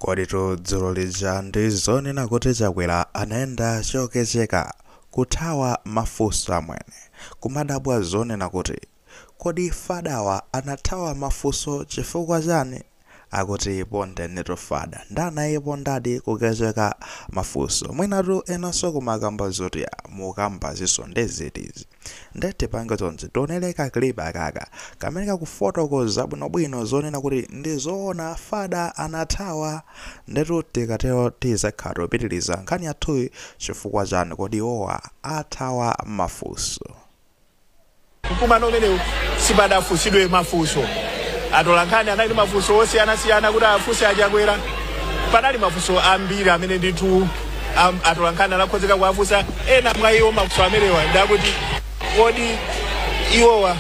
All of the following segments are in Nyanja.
Koditu dzulo lija ndi zoona kuti Chakwera anayenda chokecheka, kuthawa mafunso amwene, kumadabwa zonena kuti kodi fadawa anathawa mafunso chifukwa chani? Akuti ipondenitu fadah nde anayipondadi kukecheka mafunso. Mwinatu enanso kumakamba zoti ya mukukambazinso nde ziti izi? Nde tipange chonchi, tionele ka clip kakaka kamene kakufotokoza bwinobwino zonena kuti ndi zoona Fada anathawa. Ndetu tikatero tizakhalano tikupitiliza nkhani yathuyi chifukwa chani kodi iwowa athawa mafunso. Mkumano umenewu sipadafunsidwe mafunso. Atolankhani anali ndi mafunso osiyanasiyana kuti afunse a Chakwera. Panali mafunso ambiri amene ndithu. A atolankhani anakonzeka kuwafunsa ena mwa iwo mafunso amenewa ndakuti kodi iwowa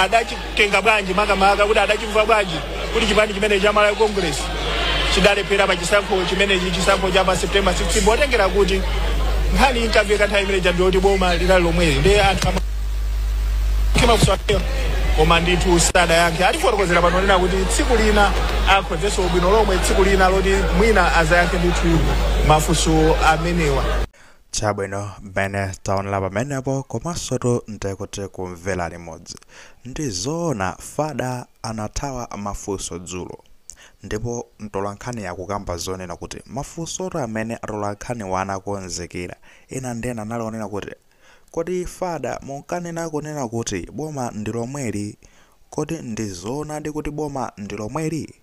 adachitenga bwanji makamaka kuti adachimva bwanji kuti chipani chimene cha malawi congress chidalephera pa chisankho chimenechi chisankho cha pa september 16 potengera kuti nkhani inkamveka nthawi imene ija ndiyoti boma linali lomweli ndi anthu ama- mafunso amenewo koma ndithu sadayankhe atifotokozera pano kunena kuti tsiku lina akonzenso bwino lomwe tsiku lina loti mwina azayankhe ndithu mafunso amenewa chabwino mmene taonera pamenepo komansotu ndikuti kumvera limodzi ndi zoona fada anathawa mafunso dzulo ndipo mtolankhani akukamba zonena kuti mafunsotu amene atolankhani anakonzekera ena ndi ena anali onena kuti Kodi fada munkanena kunena kuti boma ndilomweli kodi ndizoonadi kuti boma ndilomweli?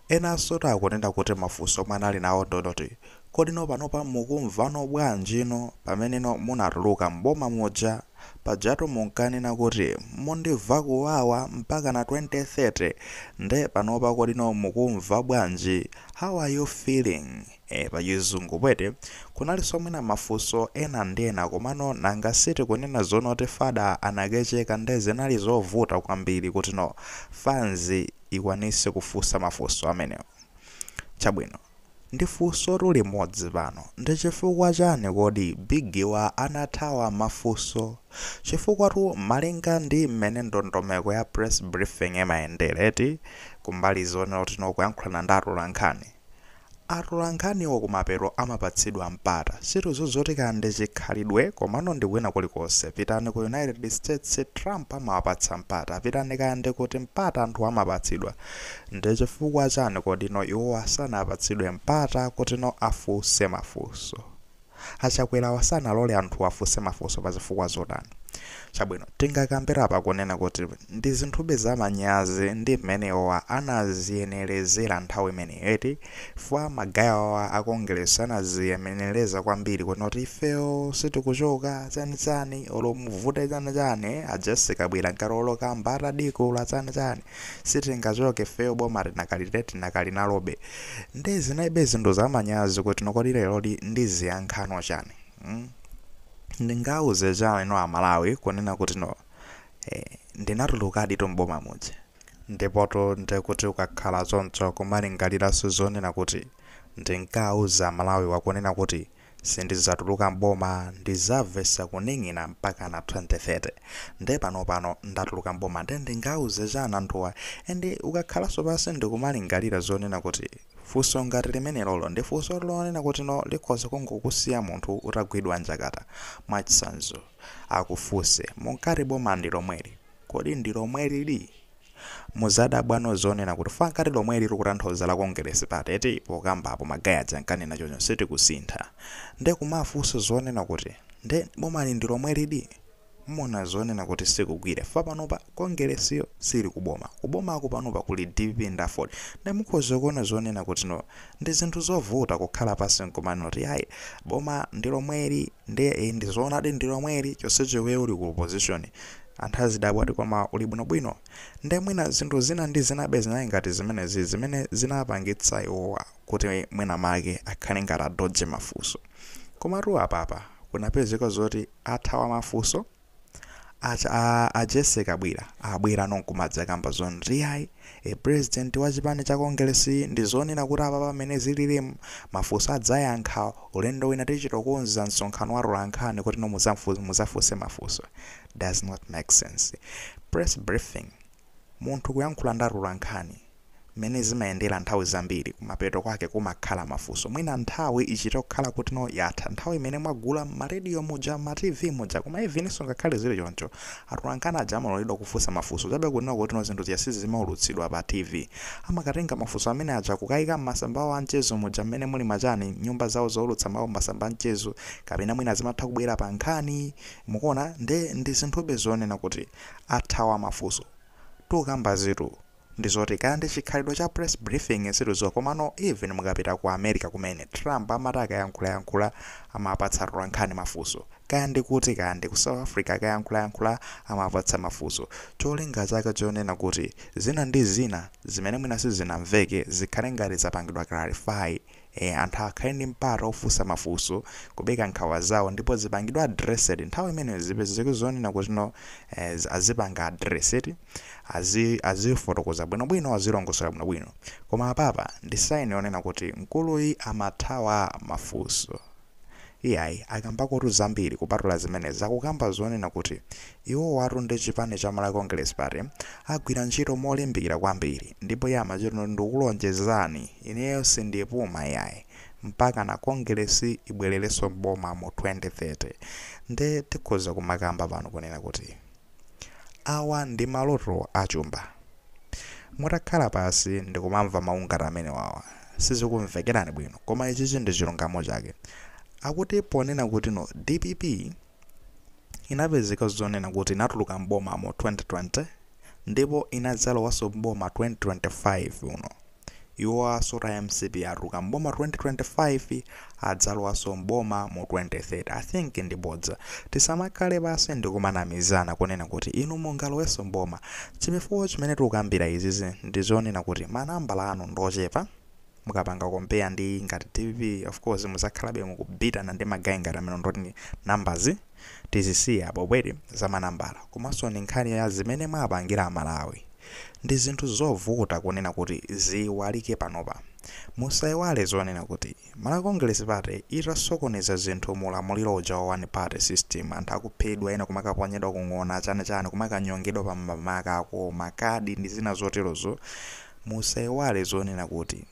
Enanso akunena kuti mafunso omwe anali nawo ndi oti kodino panopa mukumvano bwanjino pameneno munatuluka m'boma muja pajatu munkanena kuti mundimva kuwawa mpakana 2030 nde panopa kodino mukumva bwanji how are you feeling? e Pachizungu pwete, kunalinso mwina mafunso ena ndi ena komano nanga si tikunena zonoti fada anakecheka nde zinali zovuta kwambiri kutino fans ikwanise kufunsa mafunso amenewo? Chabwino, ndifunsotu limodzi pano, ndichifukwa chani kodi biggiwa anathawa mafunso? Chifukwatu malinga ndi mmene ndondomeko ya press briefing imayendela eti, kumbali zonena kutino kuyankhulana ndi atolankhani, Atolankhaniwo kumapeto amapatsidwa mpata. Sitidziwa zoti kaya ndi chikhalidwe komano ndi kwina kulikonse. Pitani ku United States, Trump amawapatsa mpata. Pitani kaya ndi kuti, mpata anthuwo amapatsidwa. Ndi chifukwa chani kodino iwowa sanapatsidwe mpata kutino afunse mafunso? A Chakwerawa sanalole anthuwa afunse mafunso pa zifukwa zotani? Chabwino, tingakambe apa kunena kuti ndi zinthube za manyazi ndi mmene iwowa anadziyenerezera nthawi imeneyo eti? Chifukwa magaya awa a Kongeresi anadziyenereza kwambiri kunena kuti ifeyo sitikuchoka, chani chani, olo muvute chani chani, a Jessie Kabwira ngati olo Kamba atadikula chani chani, sitingachoke ifeyo boma tinakali, tinakali nalobe. nde zinalibe zinthu zamanyazi kuti no kodi leroli ndiziyankhano chani mm? ndingauze chani no amalawi kunena kuti no eh, ndinatulukadi tu m'boma muja ndipoto ndekuti ukakhala choncho kumalingaliranso zonena kuti ndinkauza amalawiwa kunena kuti Sindidzatuluka m'boma ndidzamvetsa kuning'ina mpakana 2030 nde panopano ndatuluka m'boma nde ndingauze chani anthuwa and ukakhalanso pansi ndikumalingalira zonena kuti funso ngati limenelolo ndi funso lonena kuti no likhoza kungokusiya munthu utagwidwa njakata mwachitsanzo akufunse munkati boma ndilomweli Kodi ndi lomwelidi? Mudzadabwano zonena kuti fwaa ukati lomweli likutanthauza la Kongeresi pati eti pokamba apo ma guy aja ankanena choncho sitikusintha nde kumafunsa zonena kuti nde bomali ndi lomwelidi? Muona zonena kuti sikugwire chifukwa panopa Kongeresiyo siili ku boma, ku bomaku panopa kuli dpp ndi aford nde mukhoza kuona zonena kuti no ndi zinthu zovuta kukhala pansi nkumanena kuti yayi boma ndi lomweli nde ee ndi zoonadi ndi lomweli chonsecho iweyo uli ku opposition Anthu azidabwa kuti koma uli bwinobwino? Nde mwina zinthu zina ndi zinabe zinali ngati zimenezi zimene zinapangitsa iwowa kuti mwina make akhale ngati adodge mafunso. Komatu apapa kunapezeka zoti athawa mafunso aja a a Jessie Kabwira abwerano nkumadzakamba zoti ayi, A president wa chipani cha Congress ndi zoona kuti apapa mmene zilirimu mafunso adzayankha ulendo wina tichitokonza msonkhano wa atolankhani kuti no mudzamfunse mudzafunse mafunso. Does not make sense. Press briefing munthu kuyankhula ndi atolankhani mmene zimayendera nthawi zambiri kumapeto kwake kumakhala mafunso mwina nthawi ichitokhala kuti no yatha nthawi imene mwagula mma radio muja mma TV muja koma evininso ngakhale zili choncho Atolankhani aja amaloledwa kufunsa mafunso chabe kunena kutino zinthu zija sizimaulutsidwa pa TV. Amakatenga mafunso amene aja kukaika m'masamba awo a mchezo muja mmene muli machani, nyumba zawo zoulutsa mawu m'masamba a mchezo, kapena mwina zimatha kubwera pa nkhani, mukuona, nde ndi zinthube zonena kuti athawa mafunso tongokambazitu. Ndizoti kaya ndi chikhalidwe cha press briefing sitidziwa komano even mukapita ku America kumene Trump amati akayankhulayankhula amapatsa atolankhani mafunso kaya ndi kuti kaya ndi ku South Africa akayankhulayankhula amawapatsa mafunso cholinga chake chonena kuti zina ndi zina zimene mwina sizinamveke zikhale ngati zapangidwa clarify E, anthu akhale ndi mpata ofunsa mafunso, kupereka nkhawa zawo ndipo zipangidwe addressed nthawi imeneyo zipezeke zonena kuti no eh, zi- azipanga address azi azifotokoza bwinobwino azilongosola bwinobwino koma apapa ndi sign yonena kuti mkuluyi amathawa mafunso Iyayi, akambakotu zambiri kupatula zimenezi. Akukamba zonena kuti iwowatu ndi chipani cha Malawi Congress Party agwira ntchito molimbikira kwambiri ndipo iye amati ndikukulonjezani ineyo sindipuma iyayi mpakana Kongeresi ibwelerenso m'boma mu 2030. Nde tikhoza kumakamba pano kunena kuti. Awa ndi maloto a chumba. Mutakhala pansi ndikumamva mawu ngati amenewawa, sizikumvekerani bwino koma ichichi ndi chilungamo chake. Akuti ponena kuti no dpp inapezeka zonena kuti inatuluka m'boma mu 2020 ndipo inadzalowanso m'boma 2025 uno. Iwo as mcp atuluka m'boma 2025 adzalowanso m'boma mu 2030 i think ndi bodza tisamakhale pansi ndikumanamizana kunena kuti inu mungalowenso m'boma chifukwa chimene tikukambira izizi ndizonena kuti ma nambala anu ndiochepa mukapanga compare ndi ngati dpp of course muzakhalabe mukubhitana ndi ma guy ngati amenewo nde kuti numbers tizisiye apo bwerani za manambala komanso ndi nkhani ya zimene mwapangira amalawi ndi zinthu zovuta kunena kuti ziiwalike panopa musaiwale zonena kuti Malawi Congress Party itasokoneza zinthu mu ulamuliro uja wa one party system anthu akuphedwa ena kumakaponyedwa ku ng'ona chani chani kumakanyongedwa pa mmakako mmakadi ndi zina zoterozo musaiwale zonena kuti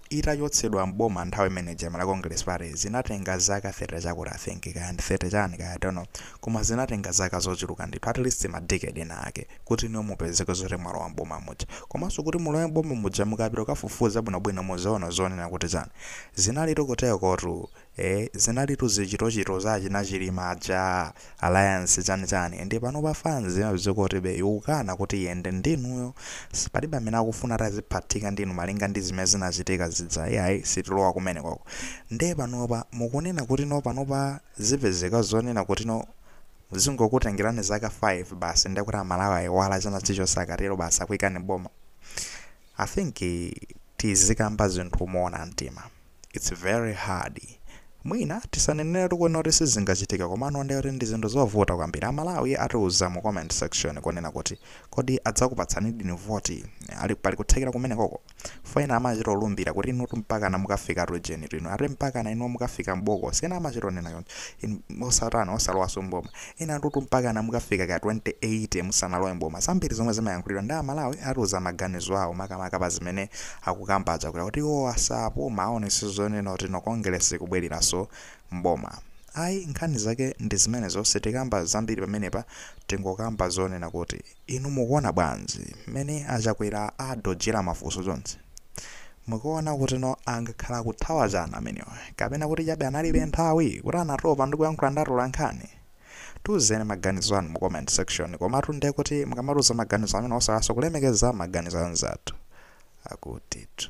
itachotsedwa m'boma nthawi imene ija Malawi Congress Party zinatenga zaka 30 chakuti I think kaya ndi 30 chani kaya I don't know koma zinatenga zaka zochuluka ndithu at least ma decade ena ake kuti inuyo mupezeke zoti mwalowa m'boma muja komanso kuti mulowe m'boma muja mukapita kukafufuza bwinobwino muzaona zonena kuti chani zinalitu kutelotu ee zinalitu zichitochito za achina chilima ajaa alliance chani chani nde panopa fanz ya azikwatibe ikukana kuti iyende ndi inuyo si palibe amene akufuna ati aziphathika ndi inu malinga ndi zimene zinachitika zija iyayi sitilowa kumeneko nde panopa mukunena kutino panopa zipezeka zonena kutino zingokutengelani zaka 5 basi nde kuti amalawi ayiwala china chilichonse akatelo basi akuikani m'boma i think tizikamba zinthu moona mtima. It's very hard. Mwina tisaneneretu kunena kuti sizingachitike komano ndiye kuti ndi zinthu zovuta kwambiri. Amalawi atiuza mu comment section kunena kuti kodi adzakupatsanidini voti? Kodi pali kuthekera kumenekoko? Poti ena amachita olumbira kuti inutu mpakana mukafika ujenitu inu. Ati mpakana inuyo mukafika m'bokosi. Ena amachita onena choncho. Inu osatani osalowanso m'boma. Enatutu mpakana mukafika ka 2080 musanalowe m'boma. Zambiri zomwe zimayankhulidwa ndi a Malawi atiuza maganizo awo makamaka pa zimene akukamba a Chakwera kuti iwowa sapuma aonetse zoona kuti no Kongeresi ikubweleraso m'boma. Ayi nkhani zake ndi zimenezo sitikamba zambiri pamenepa tingokamba zonena kuti. Inu mukuona bwanzi mmene a Chakwera adojela mafunso chonchi? Mukuona kutino angakhala akuthawa chani amenewa kapena kuti chabe analibe nthawi, kuti anatopa ndi kuyankhula ndi atolankhani? Tiuzeni maganizo anu mu comment section komatu nde kuti mukamatiuza maganizo amenewo osaiwalaso kulemekeza maganizo anzathu akutitu.